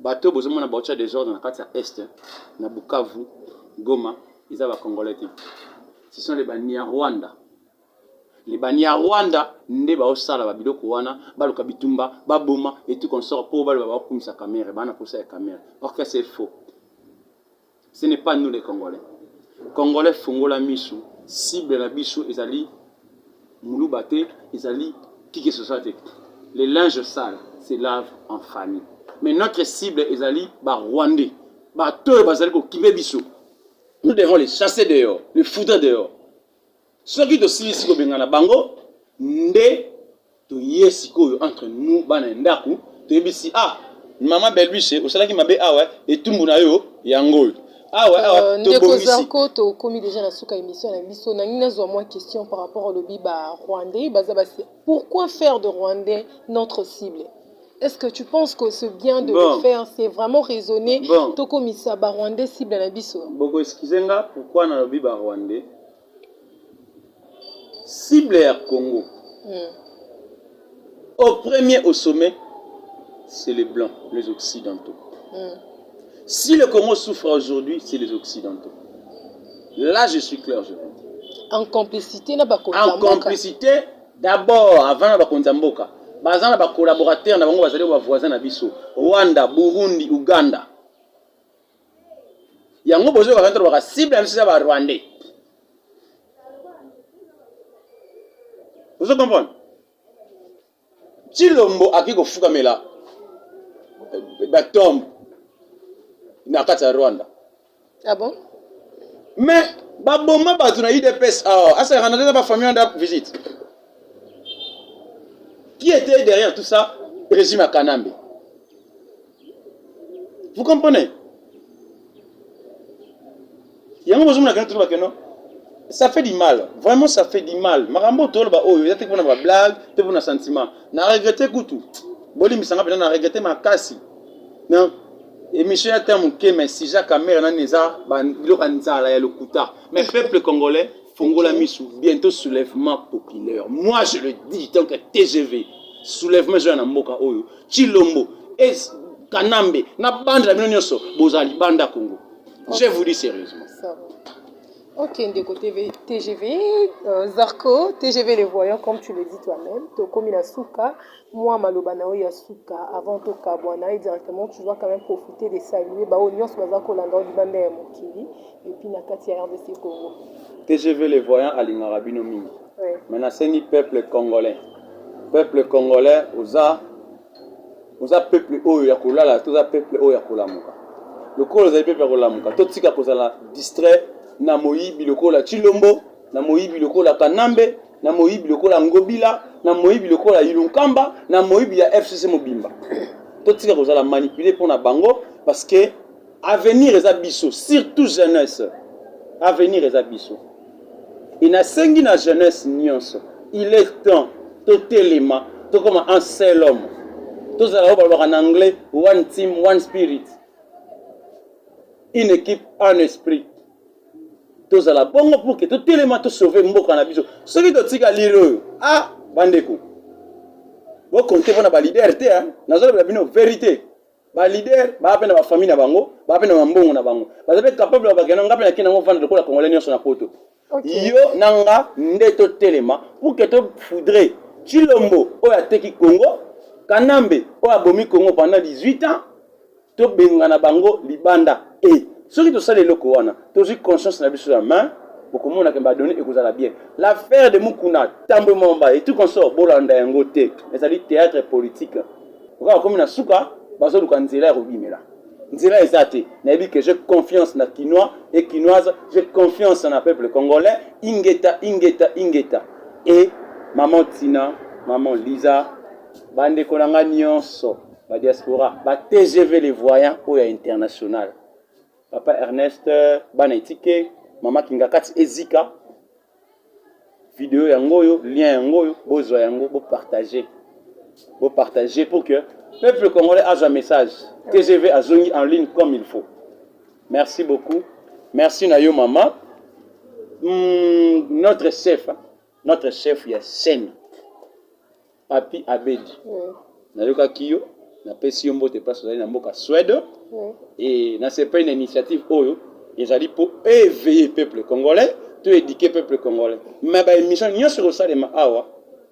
Bato oyo bozo mona baotya desordre na kati ya Est na Bukavu, Goma eza ba Congolais te. Ce sont les Banyarwanda. Les Banyarwanda nde baosala ba biloko wana, baluka bitumba, baboma et tout consort mpo baloba baokumisa Kamerhe, baa na posa ya Kamerhe. Or que c'est faux. Ce n'est pas nous les Congolais. Congolais fungola misu, cible na biso ezali muluba te, ezali kiki sosa te. Les linges sales se lavent en famille. Mais notre cible ezali ba Rwandais, ba toyo bazali ko kibe biso. Nous devons les chasser dehors, les foudre dehors. Soki tosilisi kobengana bango nde toye sikoyo entre nous bana ya ndako toyebisi ah mama belbise osalaki mabe awa etumbu na yo yango oyo awa awa euh, tobongisi zarko tokomi deja na suka émission na biso nangi nazwa mwa question par rapport olobi ba rwandais baza basi pourquoi faire de rwandais notre cible Est-ce que tu penses que c'est bien de bon. le faire C'est vraiment raisonné. Bon. Tokomisa ba Rwandais cible na biso. Boko excusez nga pourquoi na lobi ba Rwandais cible ya Congo mm. au premier au sommet c'est les blancs les occidentaux mm. si le Congo souffre aujourd'hui c'est les occidentaux là je suis clair je vous dis en complicité na bakonzi en complicité d'abord avant na bakonzi ya mboka baza na bacollaborateur na bango bazali bavoisin na biso rwanda burundi uganda yango bozo yoka kanto baka cible na biso eza ba rwandais ozo comprendre tshilombo akoki kofukamela eh, batombe na kati ya rwanda ah bon? mais baboma bato na udps awa ah, asalaka na tata bafamille wana visite qui était derrière tout ça régime ya kanambe Vous comprenez? Yango bozomona kena toloba keno ça fait du mal vraiment ça fait du mal makambo toloba oyo eza te mpona ba blague te mpona sentiment na regrette kutu bolimbisanga mpena na regrette makasi na émission ya temps moke mais sija camere nani eza biloko ya nzala ya lokuta mais peuple congolais fongola misu bientôt soulèvement populaire moi je le dis donc tgv soulèvement ezoya na mboka oyo Chilombo et Kanambe na bande la bino nyoso bozala libanda Congo. Je vous dis sérieusement. Ok, Ndeko TV, TGV, euh, Zarko, TGV les voyants, comme tu le dis toi-même, Tokomi la Souka, moi Maloba Nao ya Souka, avant Toka Boana, et directement, tu dois quand même profiter de saluer, bah, Onios Bazako Landao, Libanda ya Mokili, et puis Nakati ya RDC Congo. TGV les voyants, Alingarabino Mingi. mais nasengi peuple congolais peuple congolais oza oza peuple oyo ya kolala toza peuple oyo ya kolamuka lokola ozali peuple ya kolamuka totika kozala distrait na moyibi lokola chilombo na moyibi lokola kanambe na moyibi lokola ngobila na moyibi lokola ilunkamba na moyibi ya fcc mobimba totika kozala manipule mpo na bango parce que avenir eza biso surtout jeunesse avenir eza biso enasengi na jeunesse nyonso il est temps totelema tokoma un seul homme tozala oyo balobaka na anglais one team one spirit une équipe un esprit tozala bongo pour que totelema tosauve mboka na biso soki totika lire oyo a ah, bandeko bokonte mpo na balider te nazolobela bino verité ba leader ba pe na ba famille na bango ba pe na mbongo na bango baza pe capable ya bakenda nga pe na kenda ngo vanda lokola congolais nyonso na poto okay. yo na nga nde totelema pour que to foudre chilombo oyo ateki congo kanambe oyo abomi congo pendant 18 ans tobengana bango libanda e soki tosali eloko wana tozwi conscience na biso ya main bokomona ke badone ekozala bien l'affaire de mukuna tambwe momba et tout consort bolanda yango te ezali théâtre politique oka bakomi na suka bazoluka nzela ya kobimela nzela eza te nayebi que j'ai confiance na kinois et kinoise j'ai confiance na peuple congolais ingeta ingeta ingeta et maman tina maman liza bandeko na ngai nyonso badiaspora ba tgv le voyant oyo ya international papa ernest bana etike mama kingakati ezika video yango oyo lien yango oyo bozwa yango bo partager bo partager pour que peuple congolais azwa message tgv azongi en ligne comme il faut merci beaucoup merci na yo mama mm, notre chef notre chef ya scène Papy Abedi, nayokaki yo, napesi yo mbote place ozali na mboka Suède et nasepeli na initiative oyo ezali mpo éveiller peuple congolais to éduquer peuple congolais mais ba émission nyonso ekosalema awa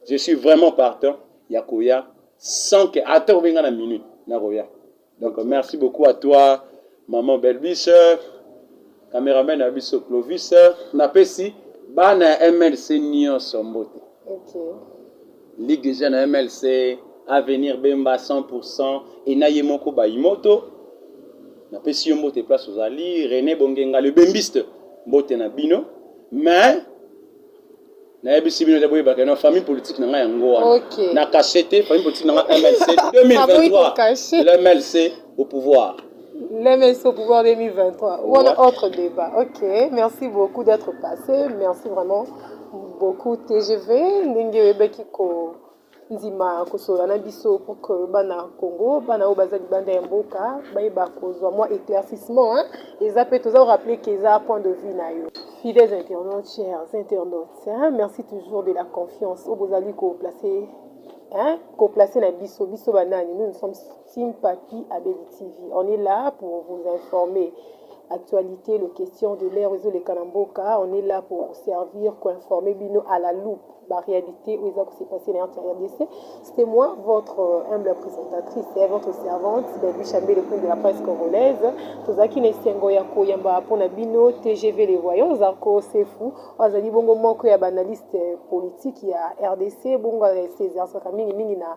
je suis vraiment partant ya koya sans que ata obenga na minute nakoya Donc merci beaucoup à toi maman Belbis, cameraman na biso Clovis, napesi bana ya MLC nyonso mbote. Okay. Ligue des jeunes MLC Avenir Bemba 100% et na ye moko Bayimoto. Napesi yo mbote place ozali René Bongenga le bembiste mbote na bino mais Nayebisi bino te boyeba que na famille politique na nga yango wana. Okay. Na cache te famille politique na nga MLC 2023. Le MLC au pouvoir. Le MLC au pouvoir 2023. Ou ouais. autre débat. Ok, merci beaucoup d'être passé. Merci vraiment beaucoup TGV. Ndenge oyebaki ko ndima kosolola na biso pour que bana Congo bana oyo baza libanda ya mboka bayeba kozwa mwa éclaircissement hein. eza mpe toza rappeler que eza point de vue na yo fidèles internautes chers internautes hein, merci toujours de la confiance oyo bozali ko placer hein, ko placer na biso biso banani nous nous sommes Team Papy abeli TV on est là pour vous informer actualite le question de l'heure ezo leka na mboka on est là pour servir ko informer bino à la loupe ba réalité oyo eza ko se passer na RDC c'était moi votre euh, humble présentatrice et votre servante Baby Chambé le prince de la presse congolaise tozaki na esengo ya koyamba mpo na bino TGV les voyants Zarko Sefu azali bongo moko ya ba analyste politique ya RDC bongo asezarsaka mingi mingi na